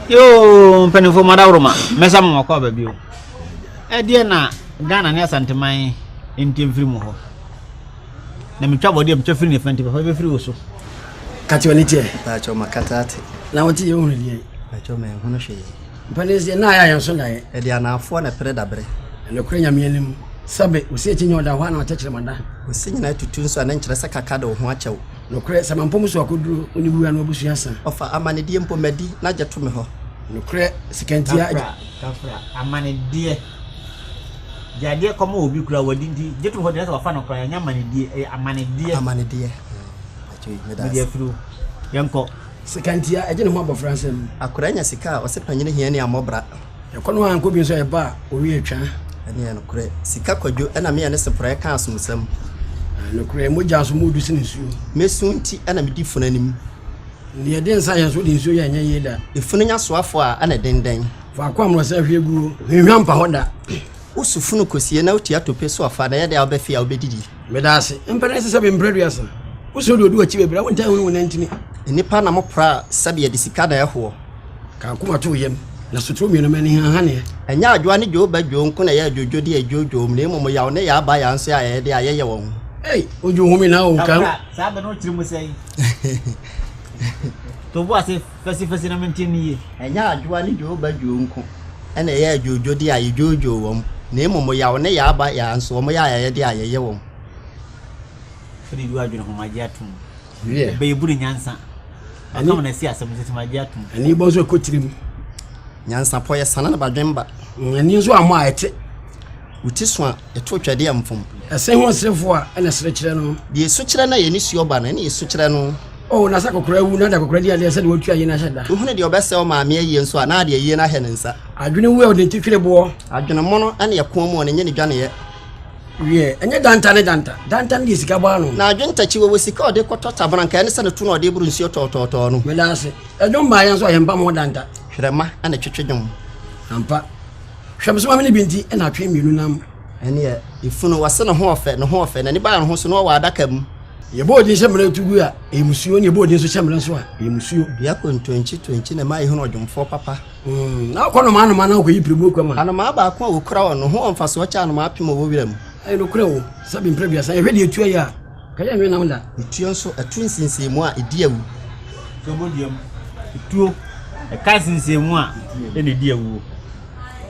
yoo mpanimfoɔ mu adaworoma mɛsa mo wakɔ aba bio ɛdeɛ na ghana ne asanteman nti mfiri mu hɔ na metwa bɔdeɛ metwa firi ne fa nti papa bɛfiri wo so kate ɔne teɛ baakyɛ ɔma kata ate na wote yɛ hunu deɛ baakyɛ ɔma ɛhunu hwee mpanin sɛ na ayɛ yɛn so naeɛ ɛde anaafoɔ na pere dabrɛ ɛnokorɛ nyameɛ no mu sɛbe ɔsi akyi nyɛ ɔda hɔ ana ɔkyɛkyerɛ mada ɔsi nyina atutu nso ɛne nkyerɛ sɛ kaka de wo ho akyɛw Nokorɛ sɛ mampɔ mo so akɔduro wo ne wura no abusua sa. Ɔfa amanedeɛ mpo madi na gye to me hɔ. Nokorɛ sekantia agye. Kafra, kafra, amanedeɛ. Gye adeɛ kɔ ma obi kura wadi nti gye to me hɔ deɛ na sɛ wafa no koraa ɛnyɛ amanedeɛ ɛyɛ amanedeɛ. Amanedeɛ. Mede afiri wo. Yɛnkɔ. Sekantia agye ne ho abɔfra nsam. Akoraa nya sika a ɔse panyini hia ne amɔbra. Yɛkɔ no ara nkɔ bi nso a ɛba a owie atwa. Ɛne yɛ nokorɛ. Sika kwadwo ɛna meyɛ ne seporɛ ka asomsɛm. Nokorɛ mogya nso mu du sene nsuo. Me so nti ɛna medi funu anim. Deɛ ɛde nsa yɛ nso de nsuo yɛ ɛnyɛ yie da. Efunu nya soafoɔ a ɛna ɛden dɛn. Faako a mmorɔsa ahwie guo hwinhwa mpa hɔ da. Woso funu kɔsie na wotua tope so afa na ɛyɛ dɛn a wobɛfe a wobɛdidi. Meda ase. Mpɛ na ɛsesɛ me mprɛ duasa. Woso deɛ ɔdi w'akyi bɛbrɛ a wontaa nhunu wo nantini. Nnipa na mopra a sɛbe yɛde sika na ɛhoɔ. Ka akoma to wo yam, na sotoro mmienu ma ani hanhanneɛ. Ɛnyɛ adwoa ne dwoobadwoo nko na ɛyɛ adwoodwodeɛ a ɛdwoodwoo wɔn, na mmom yaw ne yaa ba yaa nso yɛ ayɛyɛdeɛ a yɛyɛ wɔn. Ei, odwo home na o, ka. Abura, saa bɛ no wo tiri mu sɛn? To bo ase fasifasi na mente no yie. Ɛnyɛ adwoa ne dwoobadwoo nko na ɛyɛ adwoodwodeɛ a yɛdwoodwoo wɔn, na mmom yaw ne yaa ba yaa nso wɔyɛ ayɛyɛdeɛ a yɛyɛ wɔn. Firi dwoodwo adwene ho, magye atom. wiɛ. bɛyɛ buru nyansa ɔka wɔn asi asɛm nso agye atom ani bɔ nso ɛkɔ tirim nyansapɔ yɛ sana na badwen ba mm, ani nso ammɔ a ɛte wuti so a ɛto twɛdeɛ mfom ɛsɛ ho ɔserefoɔ a ɛna ɛsere kyerɛ no deɛ ɛsu kyerɛ no a yɛne suo ba no ɛne ɛsu kyerɛ no o na sɛ kɔkora wu na da kɔkora di adeɛ sɛdeɛ wɔtua yie no ahyɛ da wohunu deɛ ɔbɛsɛ wo maame ayie nso a na adeɛ yie no ahɛ ne nsa adwene wu a ɔde nti twere boɔ adwene mono ne ɛko mu ɔne nyɛ ne dwaneyɛ wiɛ. Ɛnyɛ danta ne danta. Danta no deɛ sika bɔ ano. Na adwontakyi wɔwɔ sika a ɔde kɔtɔ tabena nka ɛne sɛ ne to na ɔde boro nsuo tɔɔtɔɔtɔɔ no. Meda ase. Ɛdwom baa yɛn nso a yɛn mpa mo danta. Hwerɛ ma na ɛtwetwe dwom. Ampa. Hwɛ me so ma me ne bi nti ɛna atwe mmienu nam. Ɛneɛ efunu wɔse ne ho ɔfɛ ne ho ɔfɛ n'ani baa ne ho so na ɔwɔ adaka mu. Yɛbɔ odin hyɛ mmara tu gu a ɛyɛ musuo na yɛbɔ odin nso hyɛ mmara nso a ɛyɛ musuo. Dua kontonkyi tonkyi na ɛma yɛhunu ɔdwomfoɔ papa. Na ɔkɔ nnomaa nnomaa na ɔkɔyi pirimu kɔ ma. Anomaa baako a ɔkura wɔn no ho wɔ mfasoɔ kyɛ anomaa apem a wɔwɔ wira mu. Ɛyɛ nokorɛ o, sɛ bemprɛ aduasa, yɛhwɛ deɛ etuo yɛ a, ka yɛnnwe nam da. Etuo nso, ɛto nsinsiimu a, ɛdi awu. Etuo bɔ dua mu. Etuo, ɛka nsinsiimu a, ɛna ɛdi awuo.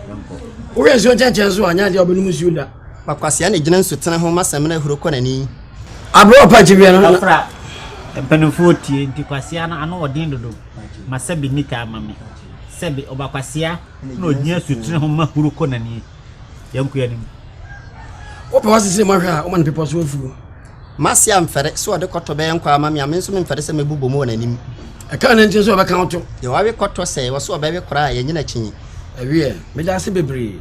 Yɛnkɔ. Wohwɛ nsuo nkyɛnkyɛn so a, nyɛ adeɛ a ɔbɛnom nsuo da. Kwakwasea na ɛgyina nsutene ho ma samina huro kɔ n'ani. Aberɛ a ɔpa nkyeweɛ no. Kɔfra, mpanimfoɔ tie, nti kwasea no, ano wɔ den dodo. ma sɛbe nni taa ma me sɛbe ɔba kwasea na ɔgyina sutene ho ma huro kɔ n'ani yɛnko yɛ anim wopɛ wɔ sesere mɔhwɛ a woma no pepɔ so afuo mase amfɛre sɛ ɔde kɔtɔ bɛyɛ nkɔ ama me a me nso memfɛre sɛ mɛbu bɔ mu wɔ n'anim ɛka ne nti sɛ ɔbɛka wo to yɛwawe kɔtɔ sɛ wɔ so ɔbɛwe koraa yɛnyina kyinyi ɛweɛ meda ase bebree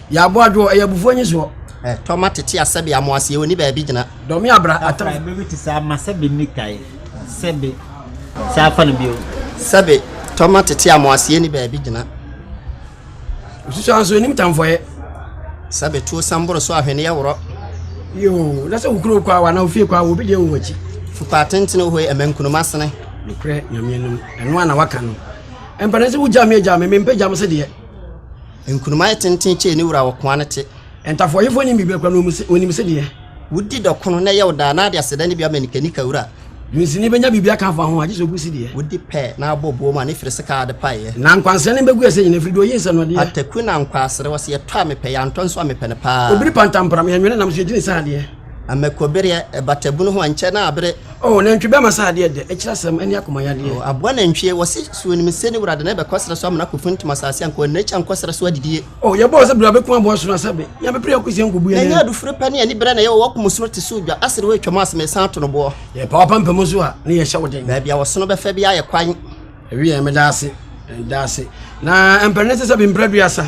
Yɛ aboa adwoɔ, ɛyɛ abufuo nyesoɔ. Ɛ, tɔ ma tete a sɛbe amoaseɛ ɔnni baabi gyina. Dɔme abra, atam. Afra bɛ bi te saa ma sɛbe nni tae, sɛbe, saa fa no bio. Sɛbe, tɔ ma tete a amoaseɛ nni baabi gyina. Osusuaa nso ɔnim tamfɔeɛ. Sɛbe, tuo sɛm boro so ahweneɛ worɔ. Yoo, na sɛ wo kuro kwa wo anaa wo fie kwa wo, obi deɛ wɔ w'akyi. Fupaa tentene ohoi ɛmɛ nkunuma sene. Nokorɛ Nyame anim, ɛno ara na waka no. Ɛmpɛ dɛ sɛ wogya me agya me, mempɛ gya me se deɛ. Nkunuma yɛ tenten kyɛn ne wura wɔ koa no te. Ntafoayifo nnim biribiara koraa, na wonim sɛdeɛ. Wodi dɔkono na ɛyɛ wo daa, na de aseda ne bi ama nikanika wura. Dunsini bɛnya biribi aka afa ho a, gye sɛ ogu sideɛ. Wodi pɛ na abɔ buo mu a, ne firi sekaa ade paeɛ. Na nkwansere no bɛgu ɛsɛ nyinaa, ɛfiri deɛ ɔyi nsɛnnodeɛ. Ataku na nkwaasere, wɔse yɛtɔ a mepɛ, yɛantɔ nso a mepɛ no paa. Obiri pantampram, yɛnwene nam so, yɛgye no sɛ adeɛ. Amɛkɔbereɛ, ɛbatabunu ho ɛnkyɛ na abere. O nantwi bɛ ma sɛ adeɛ dɛ, ɛkyerɛ asɛm, ɛne akoma yadeɛ. O aboa nantwie, wɔse so onim se ne wura de no ɛbɛkɔ serɛ so amena akɔfuntum asaase anka ɔnna akyi ankɔ serɛ so adidie. O yɛbɔɔ sɛ bra bɛku aboa sono asɛ be, nya bɛpere akɔ sie nkɔbu yɛn anim. Na ɛnyɛ adufuro pɛ ne anibere na yɛwɔ wɔ ɔko mu sono te sɛ odwa, asere hɔ atwam a se mesan ato no boɔ. Yɛpa w'apampam so a, ne yɛhyɛ wo den. Baabi a ɔsono bɛfa biara yɛ kwan. Wiɛ, meda ase, meda ase. Na mpɛrɛ ne sɛ bi mpɛrɛ duasa.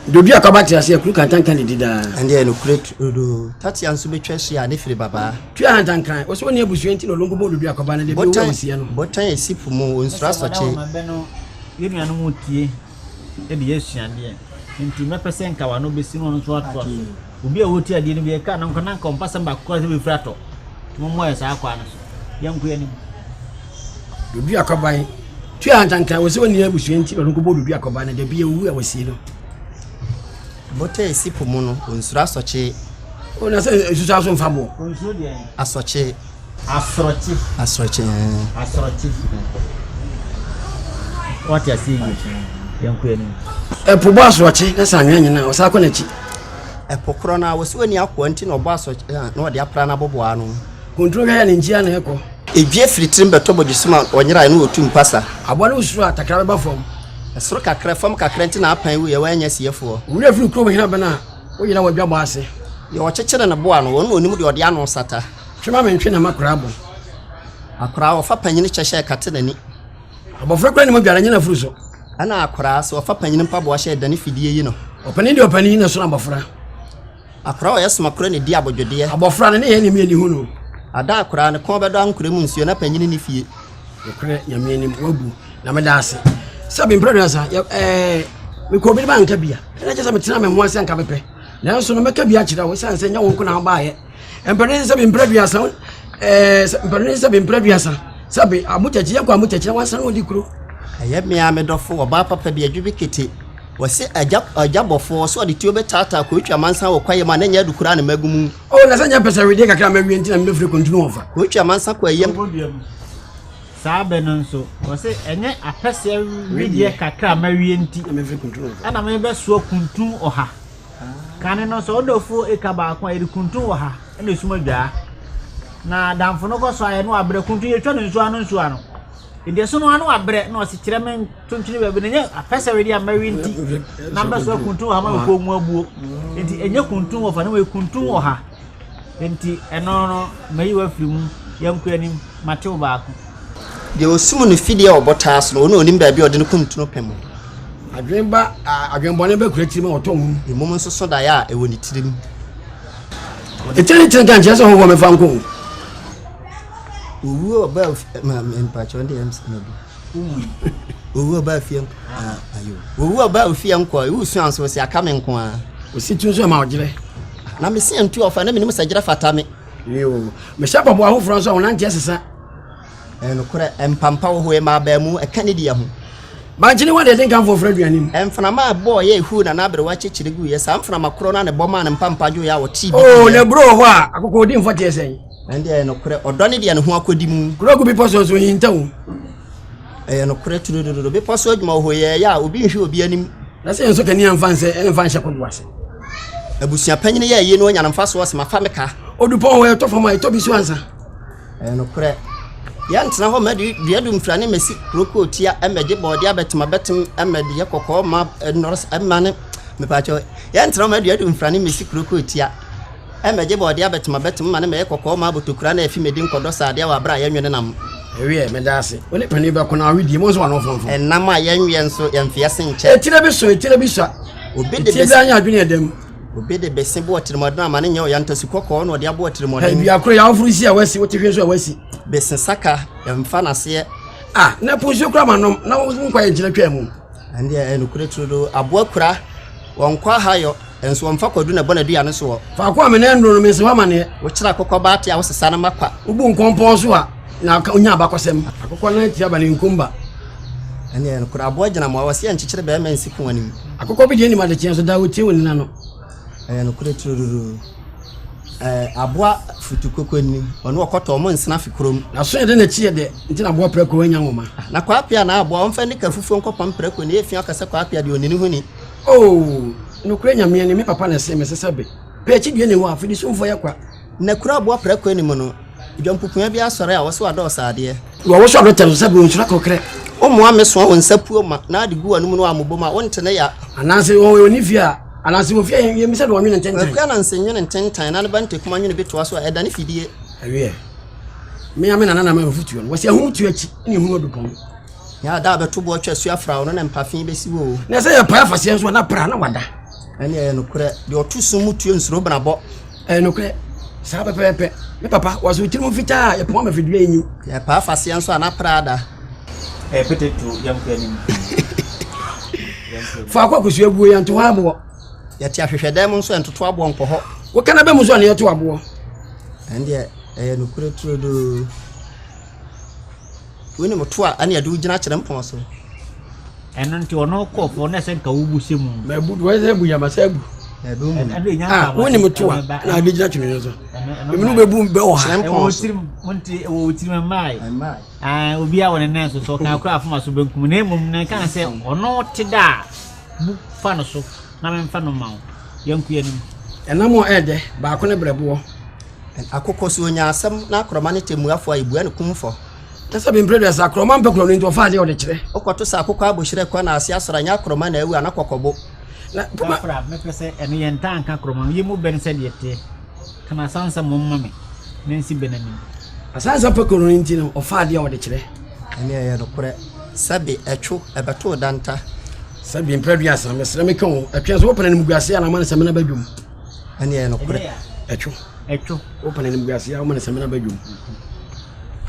Dodu akwaba te ase akuru kantanka ne di daa. Ɛndeɛ no kure dodo. Tatia nso bɛtwa ahyia ne firi babaa. Tua hantankran. Ɔsɛ ɔni abusua nti na ɔlongo bɔ dodu akwaba no deɛ bi ɔwura wɔ sia no. Botan ɛsi po mu ɔnsuro asɔkye. Ɛsɛ wɔn a wɔn abɛ no yɛ nua no mu tie de yɛ asuadeɛ. Nti mɛpɛ sɛ nka wɔn ano bɛsi na wɔn nso atoa so. Obi a ɔretie adeɛ no bi ɛka no nko na nka ɔmpa sɛm baako koraa sɛ bɛfiri atɔ. Mommɔ yɛ saa kwaa no so. Yɛnko yɛ anim. Dodo akɔban. Tua antanka wɔ sɛ wɔnni abusua nti na ɔno nkɔbɔ dodo akɔban no dabi awu a wɔsie no. Bota ɛsi po mu no, ɔnsuro asɔkye. Ɔna sɛ nsusu aso mfa boɔ. Ɔnsuro deɛ. Asɔkye. Asorɔkye. Asorɔkye ɛɛ. Asorɔkye. Wate aseɛ yie yɛn kɔ anim. Ɛpo bɔ asorɔkye na sɛ anwea nyina a ɔsan kɔ n'akyi. Ɛpo korɔ no a wɔsi wɔ ni akoa nti na ɔbɔ asorɔkye na ɔde apra n'aboboa ano. Kuntun hwɛ yɛ ne nkyia na ɛkɔ. Edwie firi tirim bɛtɔ bɔdwe sum a ɔnyerae no ɔtu mpasa. Aboa no wosuro a takra bɛba fam. Ɛsoro kakra fam kakra nti na apan wuiɛ wɔannya siefoɔ. Wura firi kurom hena bɛn a woyera w'adwabɔ ase. Deɛ ɔkyekyere ne boa no wɔn na ɔnim deɛ ɔde ano sata. Twe ma mentwe na m'akora abɔ. Akora ɔfa panyin kyɛ hyɛ ɛkate n'ani. Abɔfra kura ne mogya na ɛnyɛ n'afuru so. Ɛna akora sɛ ɔfa panyin mpaboa hyɛ ɛdane fidie yi no. Ɔpanin deɛ ɔpanin na ɛsono abɔfra. Akora ɔyɛ somakora na ɛdi abodwodeɛ. Abɔfra ne ne yɛ ne mi ani hu no. Ada akora ne kɔn bɛdɔ ankorɛ mu nsuo na panyin ne fie. Nokorɛ nyame anim wabu na meda ase sɛ bempra duasa ɛɛ eh, mekɔ obi ne ma anka bia ɛna kyɛ sɛ metena me ho ase anka mepɛ nanso no mɛka bi akyerɛ wo ɛsiane sɛ nyɛ wo nko na wobaayɛ mpɛrɛn sɛbi mpɛrɛ duasa ɛɛ eh, mpɛrɛn sɛbi mpɛrɛ duasa sɛbi amukyɛkyɛ yɛ kɔ amukyɛkyɛ wa san odi kuro. ɛyɛ mmea mi dɔfo ɔbaa papa bi adwi bi kete wɔsi agya agya bɔfo so ɔde tuo bɛ taataa kɔ otwa mansa wɔ kwaeɛ mu a n'anya adu kura ne mɛgu mu. o oh, na sɛ nyɛ pɛsɛ wedeɛ kakra ma wie ntina mi bɛ firi kuntunu wɔn fa. kɔ otwa mansa kɔ ayam. saa bɛ no nso wɔsi ɛnyɛ apɛsɛ wedeɛ kakra ma wie nti ɛna mi bɛ soɔ kuntun ɔha. Kane no, sɛ wo dɔfoɔ reka baako a, yɛde kuntun wɔ ha na esum adwaa. Na damfo no kɔ so ayɛ na wabrɛ. Kuntun yɛtwa no nsuo ano nsuo ano. Nti ɛso no ano wabrɛ na ɔsi kyerɛ me ntonkyene baabi na nyɛ apɛsɛre deɛ mmɛwe nti na mbɛsoa kuntun wɔ ha ma mekɔn mu abuo. Nti ɛnyɛ kuntun wɔ fa ne wei kuntun wɔ ha. Enti ɛno no, mayi wo afiri mu. Yɛn nkɔ anim, mate wo baako. Deɛ ɔsum ne fidie a ɔbɔ taa so no, ɔno na ɔnim baabi a ɔde ne kuntunu pɛ mu. Adwene ba a, adwene bɔne ba kura tirim a ɔtɔ wom. Mmom nso so daeɛ a ɛwɔ ne tirim. Ɛkyɛ ne kyerɛ ka nkyerɛ sɛ ɔhɔhoɔ mɛfa nkɔ o. Owuo ɔba a ɔfi ma mpakyɛ ɔno deɛ ɛmma bi. owu ɔba ofie nko ah, ayo owu ɔba ofie nko a ewu sua nso si aka me nko a osi tu nso ma ɔgyerɛ na me si ntu ɔfa na menim sɛ gyerɛ fata me yoo mehyɛ bɔbɔ ahoforɔ nso a wɔnante asesa ɛnokorɛ eh, mpampa wɔ hɔ ɛma abaa mu ɛka ne deɛ ho bankyene wa deɛ de nkamfoɔ frɛ aduane mu mframa a ɛbɔɔ yɛ ɛhu na n'aberewa kyekyere gu yɛ saa mframa korɔ no a ne bɔ maa ne mpampa dwo yɛ a wɔtee bi oo oh, na buro wɔ hɔ a akokɔ odi mfɔteɛ sɛn Ɛnde ɛyɛ nokorɛ, ɔdɔ ne deɛ ne ho akɔdi mu. Kuro gu bepɔ so nso hinta o. Ɛyɛ nokorɛ turudurudu, bepɔ so adwuma wɔ hɔ yɛ ɛyɛ a obi nhwɛ obi anim. Na sɛ nso kanea mfa nsɛ ɛmfa nhyɛ kodoɔ ase. Abusua panyin yɛ ɛyɛ no ɔnya no mfa soɔ sɛ mafa me ka. Odupɔn hɔ ɛtɔ fam a ɛtɔ bi so ansa. Ɛyɛ nokorɛ. Yɛntena hɔ mɛ de dua du mfira ne mɛsi kurokoo tia ɛmɛ gye bɔɔde abɛtem abɛtem ɛmɛ de yɛ kɔkɔɔ ma ɛnɔrɔs ɛma ne mepaakyɛw. Yɛntena hɔ mɛ de dua du mfira ne mɛsi kurokoo tia. Mɛgye bɔɔdeɛ abɛtem abɛtem ma ne mɛyɛ kɔkɔɔ ma abotokura na afi mɛdi nkɔdɔ saadeɛ wɔ aberɛ a yɛnwe ne nam. Ɛweɛ mɛda ase wo ne panin bɛko na wawe die mu nso wano wo fomfom. Ɛnam a yɛnweɛ nso yɛnfe ase nkyɛ. Etire bi so etire bi sua etie biara nyɛ adwene ɛda mu. Obi de bese bɔ atirimuɔden ama ne nyɛ ɔya ntasu kɔkɔɔ na ɔde abɔ atirimuɔden. Hɛ dua koro yɛ awoforo si a wasi wote hwɛ nso a wasi. Bese saka yɛnfa no aseɛ. Ah na po nsuo kora ma nom na wo nkwa yɛ nkyina twaa mu. Ɛndeɛ ɛyɛ nokorɛ turodoo aboa kura wɔn nkwa ahayɔ. Nanso wɔmfa kwadu na ɛbɔ n'adua no soɔ. Faako a me nan duro no, mensi hɔ amaneɛ. Wokyere akokɔba ate a wosesa no ma kwa. Wobu nkɔ mpɔn so a, na ɔnya abakɔsɛm. Akokɔ nan tia ba ne nkomba. Ɛnneɛ nokorɛ aboa gyina mmoa. Wɔse ɛnkyekyere barima nsi pon anim. Akokɔ bi deɛ nim adekyeɛ nso, daa ɔtie wo nena no. Ɛyɛ nokorɛ turururu. Ɛɛ aboa futu koko anim. Ɔne ɔkɔtɔ wɔn nsena fi kurom. N'aso yɛ dɛ na ɛkyi yɛ dɛ, nti na aboa prako anya nwoma. Na kwaapea na aboa, wɔmfa anika fufuo nkɔpam prako, nea ɛyɛ fi ɔka sɛ kwaapea deɛ ɔnni no ho ni. Oo, nokorɛ Nyame ɛne me papa na ɛsee me sesɛ be pɛ akyidie ne hɔ a, fidi somfoɔ yɛ kwa. Na kuro aboɔ prɛko anim no, dwampukua bi asɔre a wɔse wadɔɔso adeɛ. Wɔ wo so adɔ tɛm so sɛ bere nsuro akokrɛ. Wo mmoa me soa wo nsa puo ma na de gu w'anom no a mo bom a wo nte ne ya. Anaase wɔn wɔ ne fie a, anaase wɔ fie a yɛn bisa de wɔn nwene ntentan. W'akua na nse nwene ntentan na ne ba ntakuma nwene bi toa so a, ɛdane fidie. Ɛweɛ, me a me nana na me mfotuo no, wɔse ahum tuo akyi na ehunu ɔdupɔn. Hia a da a bɛto boɔ twa su afra wo no na mpafe bɛsi wo o. Na sɛ yɛ pae afaseɛ nso a na pra na wada. Ɛne ɛyɛ nokorɛ, deɛ ɔto sum mu tuo nsuro benabɔ. Ɛyɛ nokorɛ, saa pɛpɛɛpɛ. Me papa, wɔse wo tirim fitaa a yɛ poma ma fidua nyi. Yɛ pae afaseɛ nso a na pra ada. Ɛyɛ pete tuo yɛn kɔ anim. Faako a kosua guo yɛn to hɔ aboɔ. Yɛ te ahwehwɛ dan mu nso yɛn toto aboɔ nkɔ hɔ. Wo kana bɛ mu nso a na yɛ to aboɔ. Ɛne ɛyɛ nokorɛ turodoo. Wonim to a ɛne ɛde wo gyina kyerɛ mpɔn so. Ɛno nti ɔno kɔ fɔ na ɛsɛ nka wobu se mu. Mɛ bu wɔn sɛ bu yɛ ma sɛ bu. Ah, wonim to a na ɛde gyina twene so. Emi no bɛ bu bɛ wɔ ha. Kyerɛ mpɔn so. Ɛwɔ wɔ tirim mmae. Ah, obi a wɔn nan so so kan kura afoma so benkum na emom na nka sɛ ɔno te da bu fa no so na mɛmfa no ma wo. Yɛnko yɛn nim. Ɛnam a ɛdɛ baako ne brɛboɔ. Akokɔsoɔ nyaa asɛm na akorɔma ne tɛmmuafoɔ a yɛbua no kumfɔ. Kyɛ sɛ bempire deɛ sɛ akorɔma mpɛ korɔ no nti ɔfa adeɛ a ɔde kyerɛ. Wokɔto sɛ akokɔ abohyerɛ kɔ na ase asɔre a nyɛ akorɔma na awu ana kɔkɔbo. Na poma. Gafra mɛpɛ sɛ ɛno yɛ ntaa nka akorɔma no yɛ mu bɛn sɛdeɛ ɛteɛ ka na asansa mmom ma me na nsi bɛn anim. Asansa pɛ korɔ no nti no ɔfa adeɛ a ɔde kyerɛ. Ɛne ɛyɛ nokorɛ sɛbe ɛtwo ɛbɛtoo danta. Sɛ bempire duasa mesrɛ meka o ɛtwe nso wopɛ na animguaseɛ a na ama no sɛ mena badwam. ɛne ɛyɛ nokorɛ ɛtwo ɛtwo wopɛ no animguaseɛ a woma no samina ba dwom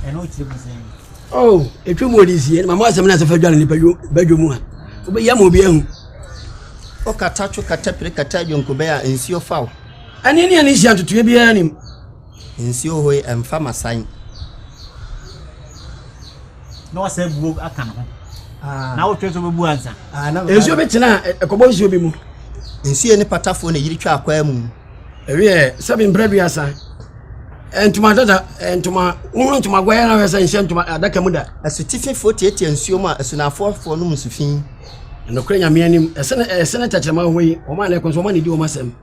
ɛno wokyerɛ mu sɛ oh ɛtwa mu ɔde sie mama asɛm no asɛ fa dwa no nipa ba dwom a wobɛyɛ ma obi ahu wokata two kata pire kata adwonkobɛn a nsuo fa wo ɛne ne ɛne nhyia ntotoeɛ biara nim Nsuo hɔ yi ɛmfa masan. Na wasɛ buo aka ne ho. Ah. Na wotwe so bɛbu ansa. Ah, na, nsuo bi tena ɛkɔbɔ nsuo bi mu. Nsuo ne patafoɔ na yiri twa akwaa mu. Ɛwiɛ sɛbi mprɛ duasa. Ntoma dada ntoma wohunu ntoma guayɛ na wɛsɛ nhyɛ ntoma adaka mu da. Asutififoɔ tiatia nsuo mu a asunafoɔfoɔ nom nsu fi. Nokorɛ nyameɛ anim ɛsene ɛsene tɛkyerɛma hɔ yi wɔn a na ɛkɔ nso wɔn a na ɛdi wɔn asɛm.